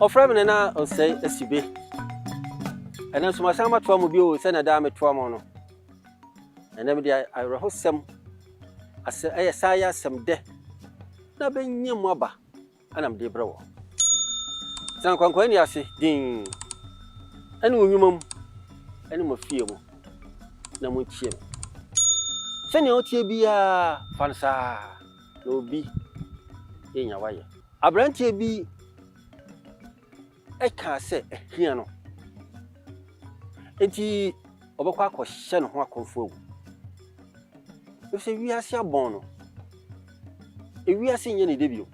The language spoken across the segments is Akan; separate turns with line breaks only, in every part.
ɔfrɛ me no na ɔnsɛe asibe ɛnɛ nso masan matoa mu bio sɛnea daa metoa mu no ɛnɛ mede awerɛhosɛm asɛ ɛyɛ saa yɛ asɛm dɛ Na benya mu aba na mede rebrɛ wɔn. Tena nkwankwaɛ nne ase dinn ne wo nnwuma mu ne mo afie mu, na muntie me. Sɛnea woteɛ biara, fa no saa ara, na obi renya w'ayɛ. Aberanteɛ bi. ɛkaa sɛ ahia no nti ɔbɛkɔ akɔhyɛ ne ho akɔmfo awu. Efisɛ wiase abɔn no, ewiase nyɛ ne de bio.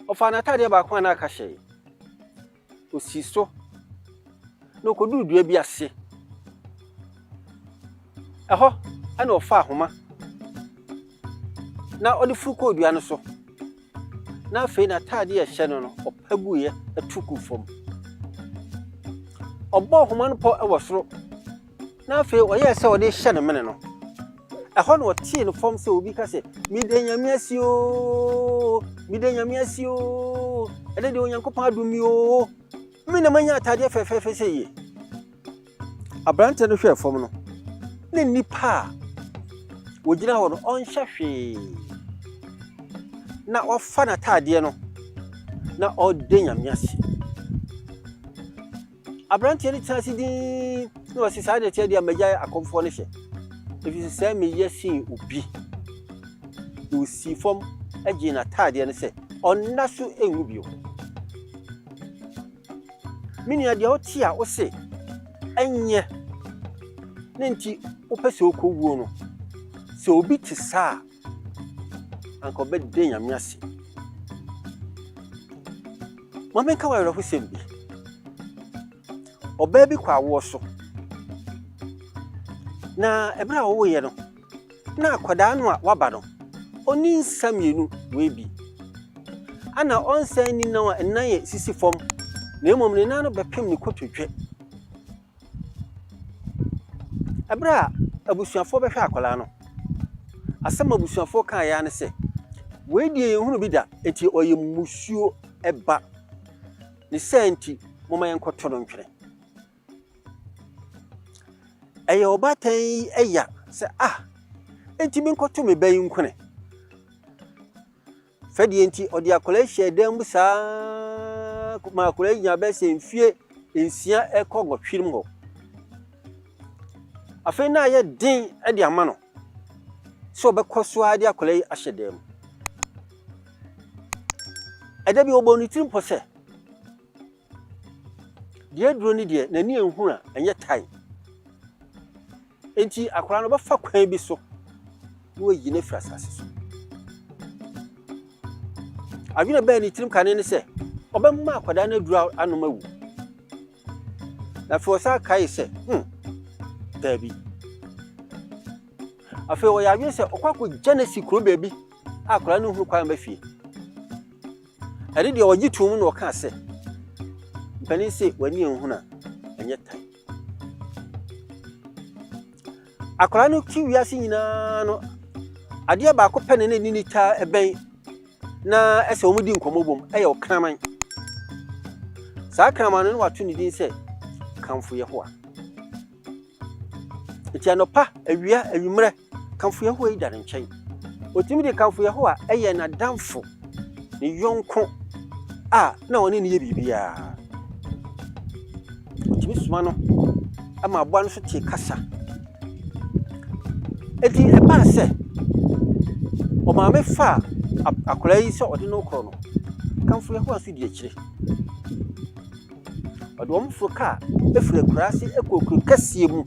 Ɔfaa n'atadeɛ baako a na aka hyɛe, osii so, na okoduu dua bi ase. Ɛhɔ na ɔfaa ahoma na ɔde foro kɔɔ dua no so. na afei n'atade a ɛhyɛ no no, ɔpa guiɛ tu guu fam. Ɔbɔɔ nhoma no pɔ wɔ soro, na afei ɔyɛɛ sɛ ɔde rehyɛ ne mene no. Ɛhɔ na ɔtee no fam sɛ obi ka sɛ, Meda Nyame ase oo, meda Nyame ase oo, ɛnɛ deɛ Onyankopɔn adom me oo, me na manya atadeɛ fɛfɛɛfɛ sɛ yie. Aberanteɛ no hwɛɛ fam no, na nnipa a wɔgyina hɔ no, ɔnhyɛ hwee. Na wafa n'ataadeɛ no, na ɔreda Nyame ase. Aberanteɛ no tena ase dinn na ɔse saa deɛ teɛ deɛ magyae akɔmfoɔ no hyɛ. Ɛfiri sɛ sɛ meyɛ sen obi. Na ɔsii fam gyee n'ataadeɛ no sɛ ɔnna so nwu bio. Me nua, deɛ wote a wose ɛnyɛ ne nti wopɛ sɛ wokɔ wuo no, sɛ obi te saa a, anka ɔbɛda Nyame ase. Ma menka wo awerɛhosɛm bi. Ɔbaa bi kɔ awoɔ so, na ɛberɛ a wɔwoeɛ no, Nna akwadaa no a ɔaba no, onnyi nsa mmienu, oebi. Ana ɔnsan nni nan a nnan yɛ sisi fam, na mmom ne nan no bɛpem ne kotodwe. Bere a abusuafoɔ bɛhwɛɛ akwadaa no, asɛm a abusuafoɔ kaeɛ ara ne sɛ, Wei deɛ yɛnhunuu bi da, enti ɔyɛ mmusuo ba. Ne saa nti, momma yɛnkɔto no ntwene. Ɛyɛ ɔbaatan yi ya sɛ, Ah, enti menkɔto me ba yi nkwene? Sɛdeɛ nti ɔde akwadaa yi hyɛɛ dan mu saa ma akwadaa yi nya bɛyɛ sɛ mfie nsia ɛkɔ nwɔtwe mu hɔ. Afei na ayɛ den de ama no sɛ ɔbɛkɔ so ara de akwadaa yi ahyɛ dan mu. Ɛda bi ɔbɔ ne tirim pɔ sɛ, Deɛ aduro no deɛ n'ani nhunu a ɛnyɛ tae. Enti akwadaa no bɛfa kwan bi so na wayi no afiri asase so. Adwene bɛɛ ne tirim kane ne sɛ ɔbɛma akwadaa no aduro anom awu. Na afei ɔsan kae sɛ, hmm, daabi. Afei ɔyɛ adwene sɛ ɔkɔ akɔgya no asi kuro baabi a akwadaa no hunu kwan ba fie. Ɛno deɛ ɔgye toom na ɔkaa sɛ, Mpanin se w'ani anhunu a, ɛnyɛ tan. Akwadaa no ti wiase nyinaa no, adeɛ baako pɛ na na ɛni ne taa ɛbɛn na ɛsɛ wɔn di nkɔmmɔ bom ɛyɛ ɔkraman. Saa kraman no na wato ne din sɛ Kamfo Yehowa. Enti anɔpa, awia, anwummerɛ, kamfo Yehowa yi da no nkyɛn. Otumi de kamfo Yehowa yɛ n'adamfo, ne yɔnko a na ɔne no yɛ biribiara. Otumi soma no ma aboa no so tie kasa. Enti ɛbaa sɛ ɔmaame faa akwadaa yi sɛ ɔde no korɔ no. Kamfo Yehowa nso di akyire. Ɔde wɔn foro kaa firi akuraase kɔɔ kuro kɛseɛ mu.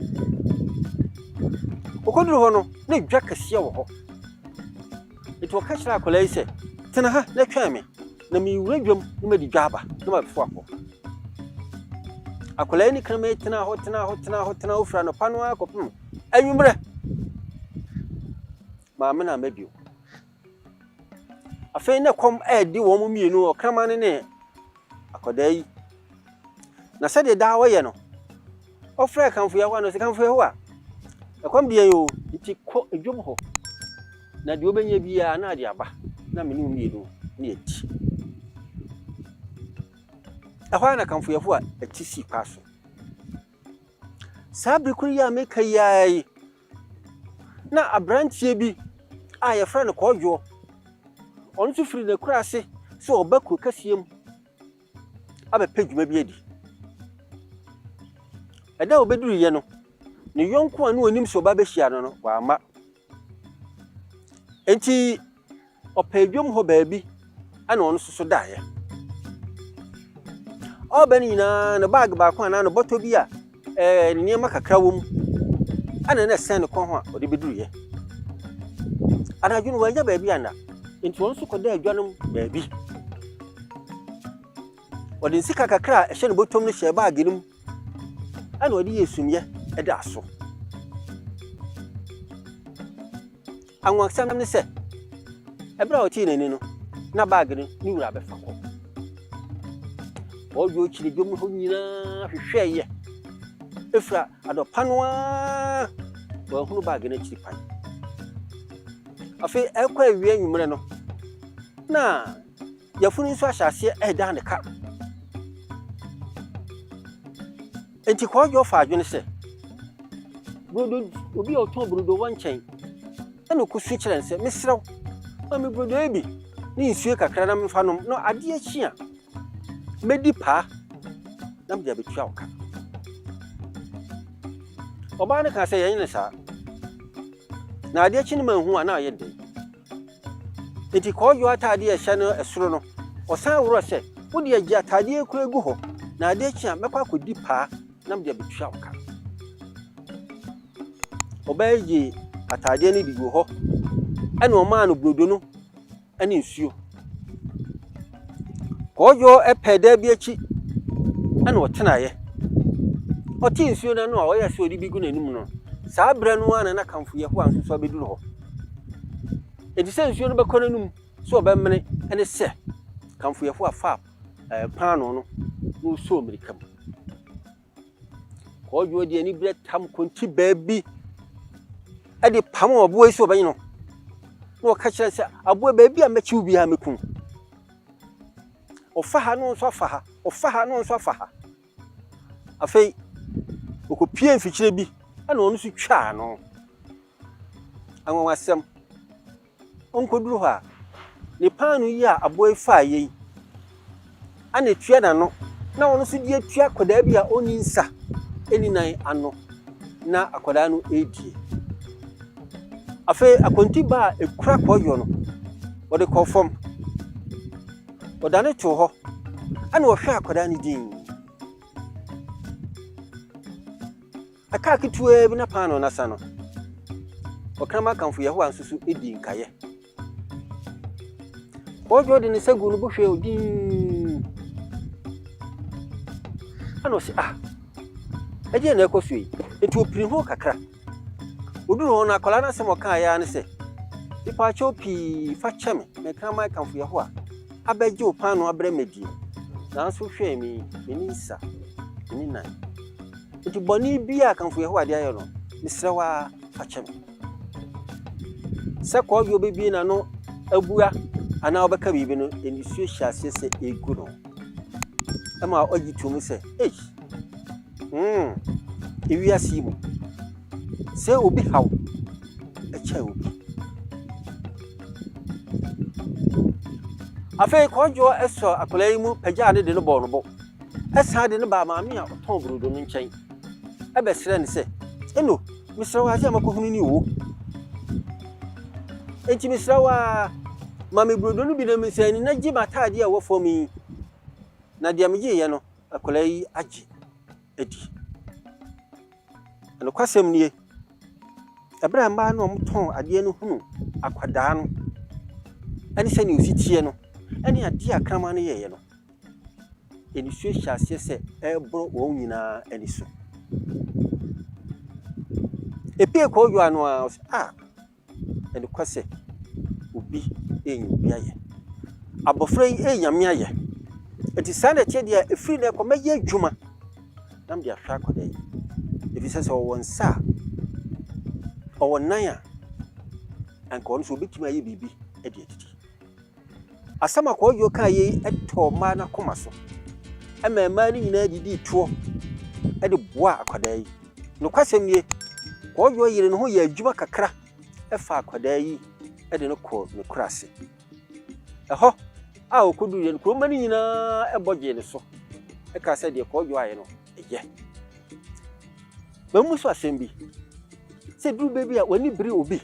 Ɔkɔduru hɔ no, na dwa kɛseɛ wɔ hɔ. Nti ɔka kyerɛ akwadaa yi sɛ, tena ha na twɛn me, na mewura dwam na madi dwa aba na mabɛfo akɔ. Akwadaa yi ne kraman yi tenaa hɔ, tenaa hɔ, tenaa hɔ, tenaa hɔ, firi anɔpa no ara kɔpem anwummerɛ. Maame na ama bio. Afei na ɛkɔm redi wɔn mmienu, ɔkraman no ne akwadaa yi. Na sɛdeɛ daa ɔyɛ no, ɔfrɛɛ kamfo Yehowa no sɛ, Kamfo Yehowa, ɛkɔm deɛ yɛ o, nti kɔ dwom hɔ, na deɛ wobɛnya biara na ade aba, na me ne wo mmienu ne adi. Ɛhɔ ara na kamfo Yehowa ti sii paa so. Saa bere koro yi a meka yi ara yi, Na aberanteɛ bi a wɔfrɛ no Kwadwoɔ, ɔno nso firi n'akuraase sɛ ɔreba kuro kɛseɛ mu abɛpɛ dwuma bi adi. Ɛda a ɔbɛduruiɛ no, ne yɔnko a na ɔnim sɛ ɔba bɛhyia no no, wamma. Enti Ɔpɛɛ dwom hɔ baabi na ɔno nso so daeɛ. Ɔreba no nyinaa no baage baako anaa no bɔtɔ bi a ɛɛ ne nneɛma kakra wɔ mu ɛna na ɛsɛn ne kɔn ho a ɔde bɛduruiɛ. Anadwo no wanya baabi anna nti ɔno nso kɔda adwa no baabi. Ɔde nsika kakra a ɛhyɛ ne bɔtɔm no hyɛɛ baage no mu ɛna ɔde yɛ sumiɛ ɛdaa so. Anwonwasɛm ne sɛ, bere a ɔtee n'ani no, na bag no ne wura abɛfa kɔ. Ɔdwo kyerɛ dwom hɔ nyinaa hwehwɛɛ yɛ. Efura adɔpa no ara wɔahunu bag no akyiri kwan. Afei ɛkɔ awie anwummerɛ no, na yafunu nso ahyɛ aseɛ ɛredan ne ka. Enti Kwadwo faa adwene sɛ, Brodo, obi a ɔtɔn brodo wɔ nkyɛn, ɛnna ɔkɔsu kyerɛɛ no sɛ, Mesrɛ wo, ma me brodo yi bi ne nsuo kakra na memfa nnom, na adeɛ kye a, mɛdi paa na mede abɛtua wo ka. Ɔbaa no kaa sɛ, Yɛnyɛ no saa. Na adeɛ kye no manhu a, na ayɛ dɛn? Enti kɔɔdwo atade a ɛhyɛ no soro no, ɔsan worɔ sɛ, Wo deɛ, gye atadeɛ yi koraa gu hɔ, na adeɛ kye a, mɛkɔ akɔdi paa na mede abɛtua wo ka. Ɔbaa yi gyee atadeɛ no de guu hɔ, ɛnna ɔmaa no burodo no ne nsuo. Kwadwo pɛɛ dan bi akyi na ɔtenaeɛ. Ɔtee nsuo no ano a ɔyɛɛ sɛ ɔde bi gu n'anom no, saa berɛ no ara na n'akamfo Yehowa nso so abɛduru hɔ. Enti sɛ nsuo no bɛkɔ n'anom sɛ ɔbɛmene ne sɛ kamfo Yehowa faa paanoo no na ɔsɔɔ mmirika mu. Kwadwo de aniberɛ tam kɔnkyi baa bi de pam aboa yi sɛ ɔbɛnye no na ɔka kyerɛ sɛ aboa baabi a mɛkyew biara mɛkum ɔfa ha no nso afa ha ɔfa ha no nso afa ha afei ɔkɔpie mfikyire bi ɛna ɔno nso twaa no anwanwasɛm Onkoduru hɔ a, ne paanoo yi a aboa yi faa yɛ yi na etua n'ano na ɔno nso de atua akwadaa bi a ɔnni nsa ɛnni nan ano na akwadaa no redie. Afei akontiba a ɛkura kɔyɔ no, ɔde kɔɔ fam. Ɔda no too hɔ ɛna ɔhwɛ akwadaa no dinn. Ɛkaa ketewaa bi na paanoo no asa no, ɔkraman kamfo Yehowa nso so dii nkaeɛ. Ɔdwo de ne nsa guu ne bo hwɛɛ dinn. Ɛna ɔse, ah, ɛdeɛ na ɛkɔ so yi. Enti ɔpiri ho kakra. Ɔduru hɔ no, akwadaa no asɛm ɔkaeɛ ara ne sɛ, mepaakyɛw pii fa kyɛ me, me kraman kamfo Yehowa, abɛgye wo paanoo abrɛ me adie. Nanso hwɛ me, m'ani nsa, m'ani nan. Enti bɔne biara a akamfo Yehowa de ayɛ no, mesrɛ wo ara, fa kyɛ me. Sɛ kɔɔdwoɔ bɛbue n'ano abua anaa ɔbɛka biribi no, nisuo hyɛ aseɛ sɛ ɛregu no. Ɛma ɔgye to mu sɛ, Ei! Mm, ewiase yi mu, sɛ obi haw kyɛn obi. Afei kɔɔdwoɔ sɔɔ akwadaa yi mu pagyaa ne de no bɔɔ no bo. san de no baa maame a ɔtɔn brodo no nkyɛn bɛsrɛɛ no sɛ, Eno, mesrɛ wo ade a makɔhunu ni oo. Enti mesrɛ wo ara, ma me brodo no bi na mensan ni na gye m'atadeɛ a ɛwɔ fam yi. Na deɛ megyeeɛ no, akwadaa yi agye adi. Nokwasɛm nie, ɛberɛ a mmaa no a wɔtɔn adeɛ no hunu akwadaa no ne sɛdeɛ ɔsi teɛ no ne adeɛ a kraman no yɛeɛ no, nsuo hyɛ aseɛ sɛ ɛreboro wɔn nyinaa ani so. Epue kɔ owura no ara ɔse ah ɛde kɔ sɛ obi renya obi ayɛ. Abɔfra yi renya nyame ayɛ. Eti saa na ɛteɛ deɛ efiri na ɛkɔ mɛyɛ adwuma na mede ahwɛ akɔda yi. Efi sɛ sɛ ɔwɔ nsa a ɔwɔ nan a anka ɔno nso obetumi ayɛ biribi de adidi. Asɛm a Kwadwo kaeɛ yi tɔɔ mmaa no akoma so maa mmaa no nyinaa didii toɔ de boaa akwadaa yi. Nokwasɛm nie, Kwadwo yere no ho yɛɛ adwuma kakra faa akwadaa yi de no kɔɔ ne kuro ase. Ɛhɔ a ɔkɔduruiɛ no, kuromma no nyinaa bɔ gyee ne so kaa sɛ deɛ Kwadwo ayɛ no yɛ. Mammu so asɛm bi sɛ duru bɛ bi a w'ani bere obi.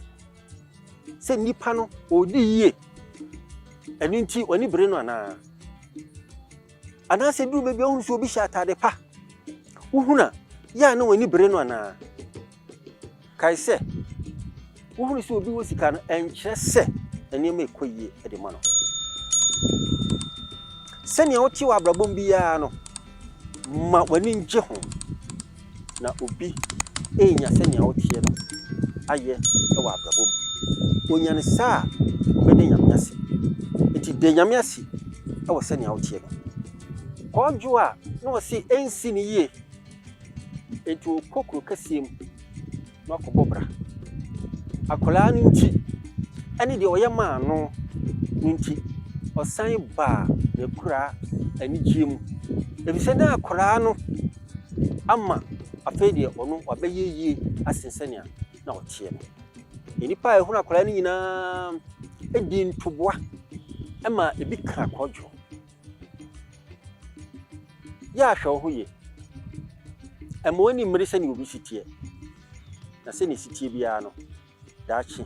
sɛ nipa no ɔredi yie, ɛno nti w'ani bere no anaa? Anaasɛ duru baabi a wohunu sɛ obi hyɛ ataade pa, wohunu a, yɛ a na w'ani bere no anaa? Kae sɛ, wohunu sɛ obi wɔ sika no, ɛnkyerɛ sɛ nneɛma ɛkɔ yie de ma no. Sɛnea wote wɔ abrabɔ mu biara no, ma w'ani ngye ho. na obi renya sɛnea ɔteɛ no ayɛ wɔ abrabɔ mu. Onya no saa a, ɔbɛda Nyame ase. Enti da Nyame ase wɔ sɛnea woteɛ no. Kwadwo a na ɔse ɛnsi no yie, enti ɔkɔ kuro kɛseɛ mu. na wakɔbɔ bra. Akwadaa no nti ne deɛ ɔyɛ maa no no nti, ɔsan baa n'akuraa anigyeɛ mu. Ɛfiri sɛ na akwadaa no ama afei deɛ ɔno wabɛyɛ yie asen sɛnea na ɔteɛ no. Nnipa a ɛhunu akwadaa no nyinaa di ntoboa ma ebi ka kɔdwo. Yɛ a hwɛ wo ho yie. Mma w'ani mmere sɛnea obi si teɛ, na sɛnea esi teɛ biara no, daakye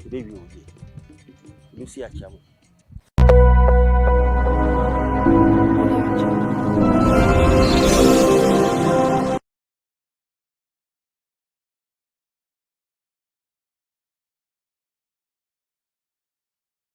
ebewie wo yie. Lucy Achiamu.